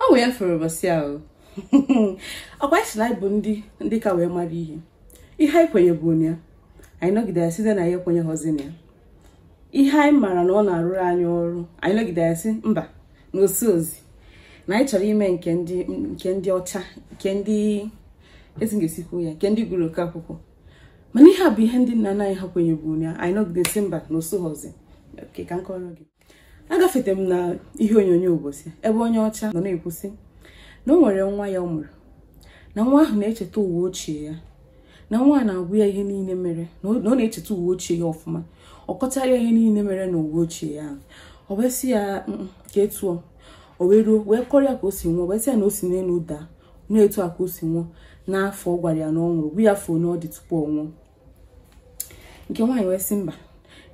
ọ wee fere ụbọchị ahụ ọkwa anyị si na anyị bụ ndị ndị ka wee mara ihe ihe anyị kwenyebu na ya anyị nọgide ya sizie na anyị ekwenyehọzi na ya ihe anyị maara na ọ na-arụrụ anyị ọrụ anyị nọgide ya sị mba na o sohọzi na anyị chọrọ ime nke ndị nke ndị ọcha nke ndị esi ga-esi kwuo ya nke ndị gụrụ oke akwụkwọ mana ihe a bụ ihe ndị nna nna anyị ha kwenyebu na ya anyị nọgide sị mba na o sohọzi ka m kọrọ gị agafete m na ihe onyonyo ụbọchị ebe onye ọcha nọ na-ekwu sị na o nwere nwa ya ọ mụrụ na nwa ahụ na-echeta ụwa ochie ya na nwa a na-agwa ya ihe niile mere na ọ na ọ na-echeta ụwa ochie ya ọfụma ọ kọchara ya ihe niile mere na ụwa ochie ya ahụ ọ wee sị ya mm, ka etu ọ o wee ruo wee kọrọ ya ka o si nwụọ wee sị ya na o si n'elu daa na etu a ka o si nwụọ n'afọ ọ gwara ya na ọ nwụrụ gwa ya afọ one ọ dị tupu ọ nwụọ nke nwaanyị wee sị mba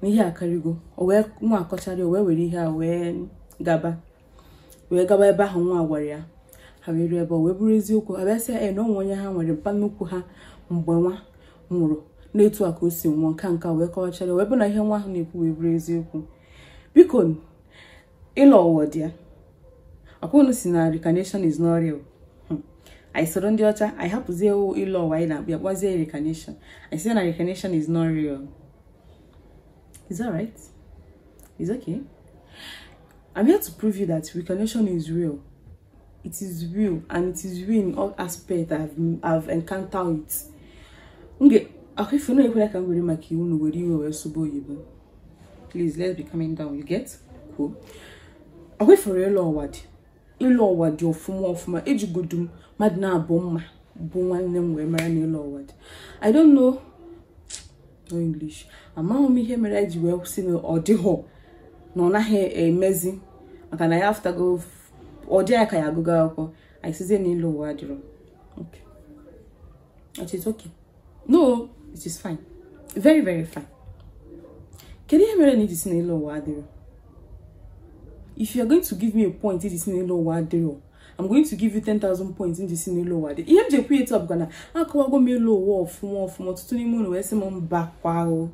na ihe akarịgo o wee nwa akọchara o wee were ihe a wee gaba wee gaba ebe ahụ nwa gwara ya ha wee ruo ebe o wee bụrụ eziokwu ha bịa sị ya na o nwee onye ha nwere mpa nnukwu ha mgbe nwa nwụrụ na etu a ka o si nwụọ nka nka wee kọwachara wee bụ na ihe nwa ahụ na-ekwu wee bụrụ eziokwu biko ịlọ ụwa dị ya ọkwa unu si na reincarnation is not real hmm. anyị soro ndị ọcha anyị hapụzie ịlọ ụwa anyị na-akpọ ya kpọzie reincarnation anyị si na reincarnation is not real is that right it's okay i'm here to prove you that reincarnation is real it is real and it is real in all aspects i've, I've encountered it m ga-akwa ife na ekwela ka m were maka iwe na were iwe wee sụba oyibo please let's be calming down you get cool okay for real ịlọ ụwa dị ịlọ ụwa dị ọfụma ọfụma ejigodu m mmadụ naabọ m ma bụ nwanne m wee mara na ịlọ ụwa dị i don't know no english amaghị m ihe mere eji wee si na ọ dịhọ na ọ naghị emezi maka na anyị afụtago ọ dị anyị ka anyị agụgo akwụkwọ anyị sizie na ịlọ ụwa adịrọ okay it is okay no it is fine very very fine kedu ihe mere na iji si na ịlọ ụwa adịrọ if you are going to give me a point iji si na ịlọ ụwa adịrọ I'm going to give you 10,000 points m ji si na ịlọ ụwa dị ihe m ji ekwu etu a bụkwa na akọwago m ịlọ ụwa ọfụma ọfụma ọtụtụ n'ime unu wee sị m mba kwa o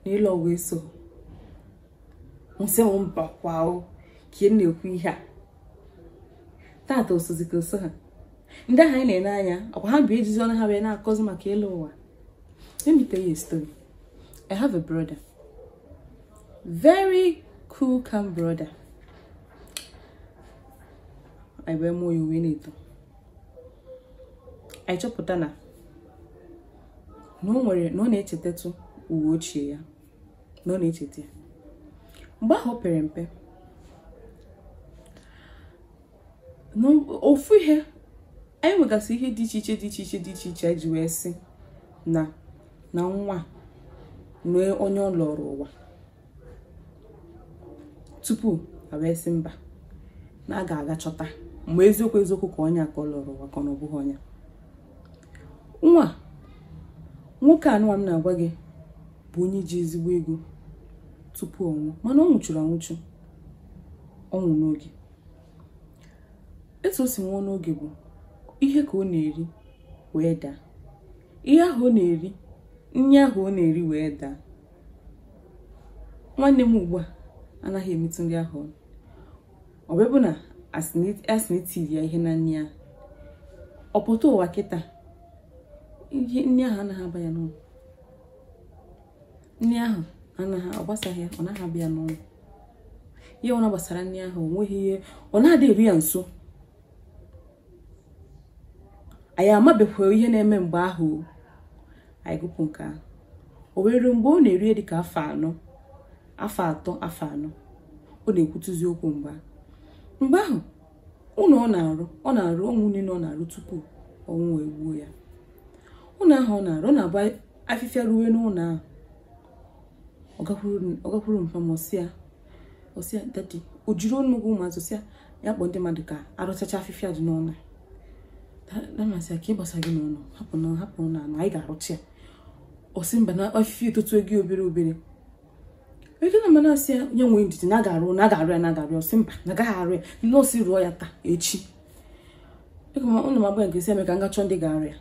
na ịlọ ụwa eso unu sị m mba kwa o ka ị na-ekwu ihe a tata o sozi ka o so ha ndị ahụ anyị na-ele anya ọkwa ha bụ ejizi ọnụ ha wee na-akọzi maka ịlọ ụwa let me tell you a story i have a brother very cool calm brother anyị wee mụọ ya o wee na-eto anyị chọpụta na na o nwere na ọ na-echetatụ ụwa ochie ya na ọ na-echeta ya mgbe ahụ o pere mpe ofu ihe anyị nwegasị ihe dị iche iche dị iche iche dị iche iche ji wee sị na na nwa na onye ọ lọrọ ụwa tupu a wee sị mba na a ga-aga chọta ma eziokwu eziokwu ka onye a ka ọ lọrọ ụwa ka ọ na ọ bụghị onye nwa nwoke anụwa m na-agwa gị bụ onye ji ezigbo ego tupu ọ nwụọ mana ọ nwụchuru anwụchu ọnwụ n'oge etu o si nwụọ n'oge bụ ihe ka ọ na-eri wee daa ihe ahụ ọ na-eri nri ahụ ọ na-eri wee daa nwanne m ugbu a anaghị emetụ nri ahụ ọnụ ọ bụ na a sị na e tiri ya ihe na nri ya ọ pụta ụwa kịta ihe nri ahụ anaghị aba ya n'ọnụ nri ahụ anaghị ọ gbasaghị ọ naghị aba ya n'ọnụ ihe ọbụna gbasara nri ahụ o nweghị ihe ọ na-adị eru ya nso anyị amabekwa ihe na-eme mgbe ahụ anyị gụpụ nke ahụ o wee ruo mgbe ọ na-eru dịka afọ anọ afọ atọ afọ anọ ọ na-ekwutụzi okwu mgbe ahụ mgbe ahụ ụlọ ọ na-arụ ọ na-arụ ụlọ niile ọ na-arụ tupu ọnwụ egbuo ya ụlọ ahụ ọ na-arụ ọ na-abụ afịfịa ruwe n'ụlọ ahụ ọ gakwuru mpa m ọ sị ya ọ sị ya daddy o jiri ọnụ okwu ụmụazị sị ya kpọọ ndị mmadụ ka a rụchacha afịfịa dị n'ụlọ dad m asị ya ka ihe gbasa gị n'ụlọ hapụ na hapụ ụlọ ahụ anyị ga-arụcha ya ọ sị mba na afịfịa etotugo obere obere ego na mana asị ya ya nwee ndidi na a ga-arụ na a ga-arụ ya na a ga-arụ ya ọ sị mba na a gaghị arụ ya na ọ sị rụọ ya taa echi ego ma ụnụ m agba nke si eme ka m ga chọọ ndị ga-arụ ya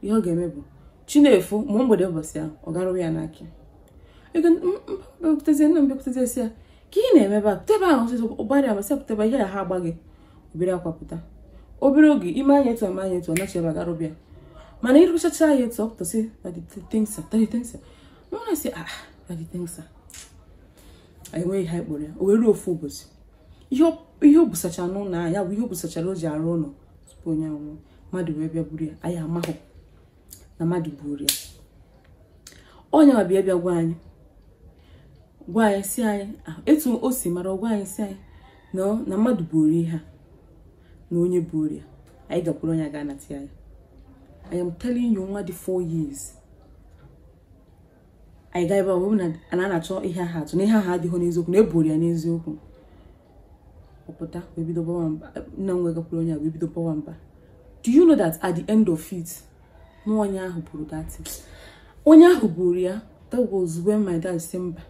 ihe ọ ga-eme bụ chi na-efo ma mgbede ụbọchị ahụ ọ garụwa ya n'aka ego m bịakwutezie nna m bịakwutezie sị ya ka ihe ị na-eme ebe a pụta ebe ahụ ọsịsọ ụgbarịa m asị pụta ebe a ihe ya ha agbaa gị o bere akwa pụta obere oge i mee anya etu a mee anya etu ọ nachi ebe gara bịa mana ịrụchacha ya etu ọ pụta sị daddy thank sir daddy thank sir nwa na-asị ah daddy thank sir anyị nweghị ihe anyị kpọrọ ya o wee ruo ofu ụbọchị ihe o busacha n'ụlọ ahụ ya bụ ihe o busachara o ji arụ ụlọ tupu onye a anwụọ mmadụ wee bịa buru ya anyị amahụ na mmadụ buru ya onye ma bịa bịa gwa anyị gwa anyị sị anyị etu o si mara gwa anyị sị anyị na na mmadụ buru ihe a na onye buru ya anyị gakwuru onye ga-anata ya I am telling you nwa dị 4 years anyị gaa ebe ọ bụ na a na-achọ ihe aha atụ na ihe aha adịghị n'eziokwu na e buru ya n'eziokwu ọ pụta wee bido bawa mba nna m wee gakwuru onye a wee bido bawa mba do you know that at the end of it na onye ahụ buru that onye ahụ buru ya that was when my dad say mba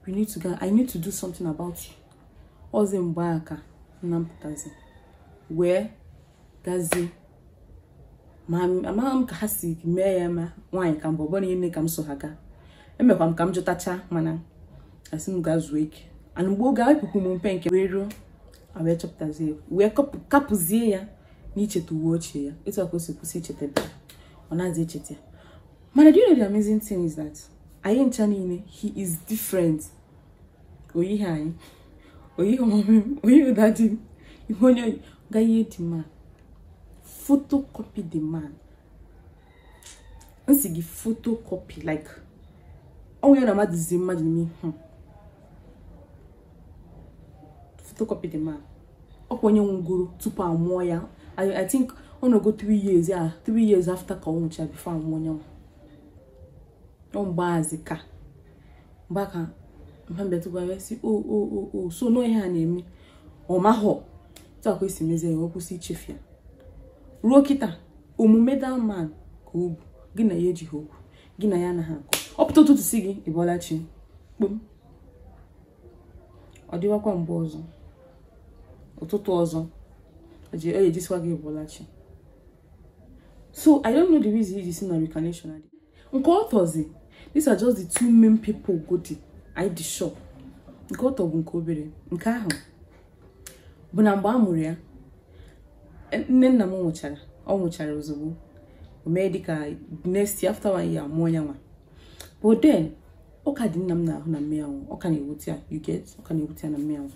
we need to go i need to do something about you ọọzi mgbe a ka nna m pụtazi wee gazie ma amaghị m ka ha si mee ya ma nwaanyị ka m bụ ọ bụrụ niile ka m so ha gaa emekwa m ka m jụtacha mana a sị m gaa zuo ike ana mgbe oge epụpụ m mpe nke wee ruo wee chọpụtazie wee kapụzie ya na icheta ụwa ochie ya etu a ka o si kwụsị icheta ebe ọ na-adị echeta ya mana do you know the amazing thing is that anyị ncha niile he is different o yihe anyị o yihe mummy m o yihe daddy m ihe onye o yi gaghị the man photocopy the man m sị gị photocopy like ọnwụ ya na mmadụ zi mmadụ n'ime ihu photocopy the man ọ kwa onye nwụgoro tupu a mụọ ya I, I think ọ nọgo 3 years ya 3 years after ka ọ nwụcha before a mụọ onye nwa mgbe ahụzi ka mgba ka mhambetigwara si o o o o so no ihe a na-eme ọ mahọtakwa e si mezie ya ọ kwụsị ichefu ya ruo kịta omume that man ka o bu gị na ya ejighị okwu gị na ya anaghị akọ ọ pụta ụtụtụ sị gị ị bọọla chi kpom ọ dịwakwa mgbe ọzọ ụtụtụ ọzọ o ji- o ji asịwa gị ị bọọla chi so i don't know the reason e ji sị na reincarnation adị nke atọzi these are just the two main people godi i dị shop nke atọ bụ nke obere nke ahụ bụ na mgbe a mụrụ ya nne nna m nwụchara ọ nwụchara ozugbo o mee dịka next year after one year mụọ ya nwa but then ọ ka dị nna m n'ahụ na mummy ya nwụ ọ ka na-ewute ya you get ọ ka na-ewute ya na mummy ya nwụ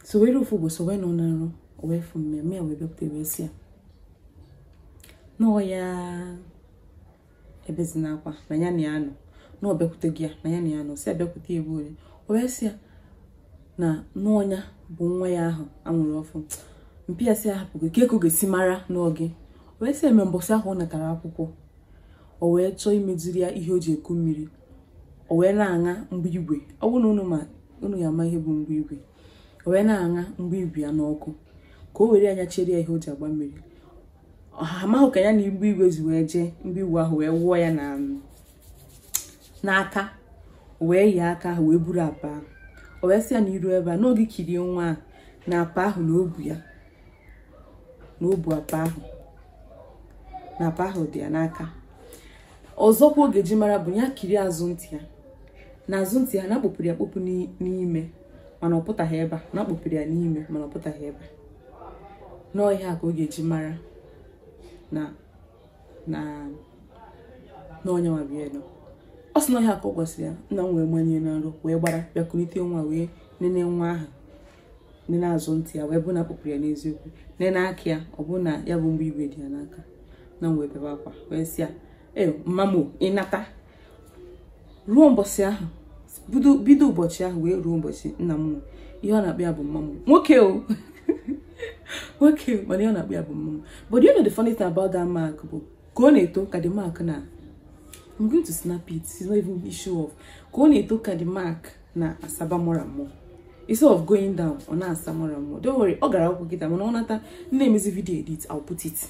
so were ofu ụbọchị wee nọ na nrọ o wee fụ mummy ya wee bịapụta wee sị ya nwa ya ebezina akwa na ya na ya nọ na ọ bịakwutego ya na ya na ya nọ sị a bịakwute ya ole o wee sị ya na na ọ ya bụ nwa ya ahụ a mụrụ ọfụ mpa ya sị ahapụ gị kee ka ọ ga-esi mara na ọ gị o wee sị em mbọsị ahụ ọ natara akwụkwọ o wee chọọ imeziri ya ihe o ji eku mmiri o wee na-aṅa mgbe igwe ọ bụrụ na unu ma unu ya ama ihe bụ mgbe igwe o wee na-aṅa mgbe igwe ya n'ọkụ ka o were anya chere ya ihe o ji agba mmiri ha amaghị ka ya na mgbe igwe si wee jee mgbe igwe ahụ wee wụọ ya na n'aka o wee yie aka ahụ wee buru apa ahụ o wee sị ya na iru ebe a na ọ ga-ekiri nwa ahụ na apa ahụ na o bu ya na o bu apa ahụ na apa ahụ dị ya n'aka ọzọkwa ọ ga-eji mara bụ ya kirie azụ ntị ya na azụ ntị ya na a kpọpuru ya akpọpu n'ime mana ọ pụtaghị ebe a na a kpọpuru ya n'ime mana ọ pụtaghị ebe a na ọ ihe a ka ọ ga-eji mara na na na onye nwa bụ ya nọ ọ sị na ọ ihe a ka ọ gwasịrị ya nna m wee manie na nrọ wee gbara bịa kulite nwa wee nene nwa ahụ nene azụ ntị ya wee bụ na a kpọpuru ya n'eziokwu nene aka ya ọ bụ na ya bụ mgbe igwe dị ya n'aka nna m wee bebe akwa wee sị ya e mma m o, ị nata ruo mbọsị ahụ bido- bido ụbọchị ahụ wee ruo ụbọchị nna m nwụrụ ihe ọ na-akpọ ya bụ mma m nwoke ọ nwoke o, mana ihe ọ na-akpọ ya bụ mma m but you know the funny thing about that mark bụ ka ọ na-eto ka the mark na I'm going to snap it. It's not even issue of. Ka ọ na-eto ka the mark na-asaba more and more. Instead of going down, ọ na-asa more and more. Don't worry, ọ gara akwụkwọ kịta mana ọ nata na-emezi video edit, I'll put it.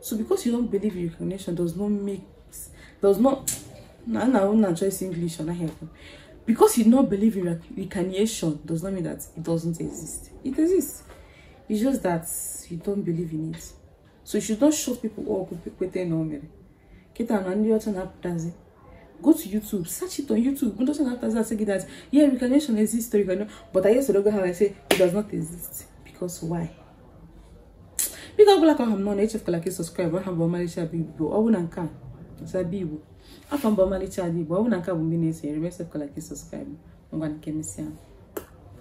so because you don't believe in reincarnation does not make does not na na una choice english on here because you don't believe in reincarnation does not mean that it doesn't exist it exists it's just that you don't believe in it so you should not shut people up with kwete na omere kita na ndị ọcha na-apụtazi go to youtube search it on youtube ndị ọcha na-apụtazi asị gị that yeah reincarnation exists but i used to go ahead and say it does not exist because why biko ọ bụla ka ọha m nọ na echefukwala ka ị subscribe aha m bụ ọmarịcha bụ igbo ọ bụ na nke a zabi igbo afa m bụ ọmalịcha bụ igbo ọ bụ na nke a bụ mgbe na-esonyere m echefukwala ka ị subscribe ngwa ka e mesịa